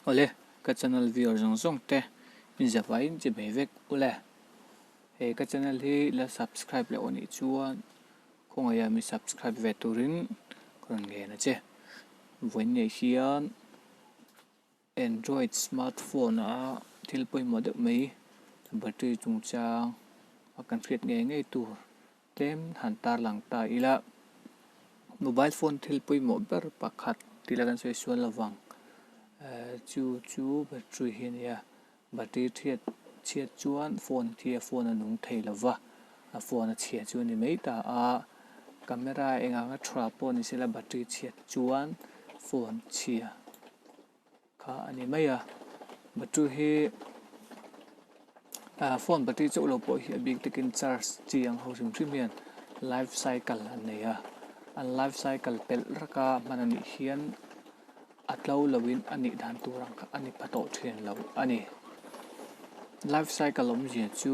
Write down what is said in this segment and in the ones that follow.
Awle ka channel viewer zawng zawng te inziak vai in che ve vek ule. He ka channel hi la subscribe loh anih chuan khawngaih ah mi subscribe ve tur in ka rawn ngen a che. Vawiin nei hian android smart phone ah thil pawimawh deuh mai battery chungchang a kan hriat ngei ngei tur. Tlem han tarlang ta ila, mobile phone thil pawimawh ber pakhat tila kan sawi sual lovang, chu chu battery hi a ni a, battery chhiat chhiat chuan phone khi a phone a nung thei lo va, a phone a chhia chu a ni mai ta a, camera eng anga thu rah pawh ni sela battery chhiat chuan phone chhia. Kha a ni mai a, battery hi ah phone battery chauh lo pawh hi a bik takin charge chi ang ho hrim hrim hian life cycle an nei a, an life cycle pelh rak a hman a nih hian a tlo lo in a nih dan tur ang kha a ni pha tawh thin lo a ni. Life cycle awm zia chu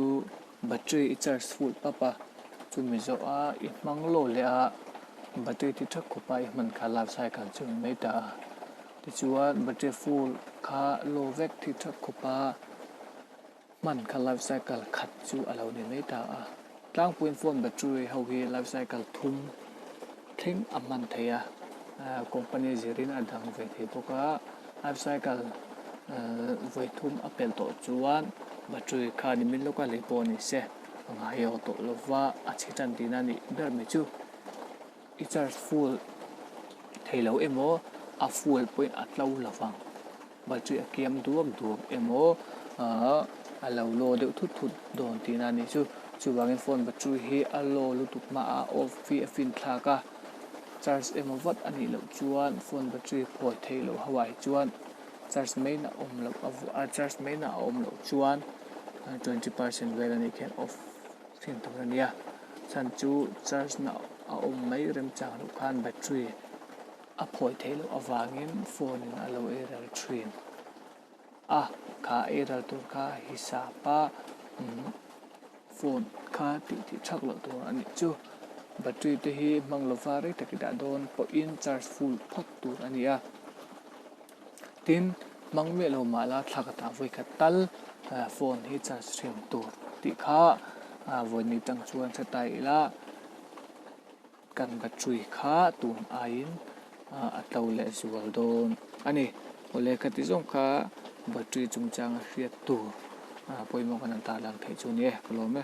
battery i charge full pap a, chu mi zawh a i hmang lo leh a battery ti tha khawp a i hman kha life cycle chu a ni mai ta a. Tichuan battery full kha low vek thi thap khawp a, hman kha life cycle khat chu a lo ni mai ta a. Tlangpuiin phone battery ho hi life cycle thum thleng a hman thei a, company zirin a dang ve thei bawk a. Life cycle vawi thum a pelh tawh chuan battery kha ni min lawk a, lei pawh ni se a ngai aw tawh lova a chhi tan tihna a nih ber mai chu. I church full thei lo emaw? A full pawhin a tlo lovang. Battery a kiam duak duak emaw? Aah a lo low deuh thut thut dawn tih na ni chu. Chuvangin phone battery hi a low lutuk hmaah off hi a fin thlak a. Church emaw vat a nih loh chuan phone battery phawi thei loh ho ah hi chuan church meinah a awm loh a church meinah a awm loh chuan twenty percent vel a nih khian off Fian tur a nia, chhan chu charge na a awm mai rem chang loh khan battery a phawi theih loh avangin phone in a lo eiral thin a, kha eiral tur kha hisap a phone kha tih tih thak loh tur a nih chu, battery te hi hmang lova rei tak i dah dawn pawhin charge full phak tur a nia. tin hmang miah lo mah la thlak atah vawi khat tal phone hi charge thin tur tih kha vawi ni chang chuan hre ta ila kan battery kha tun aiin a tlo leh zual dawn a ni aw lehkha ti zawng kha battery chungchanga hriat tur pawimawh ka rawn tarlang thei chu a ni e ka lawm e.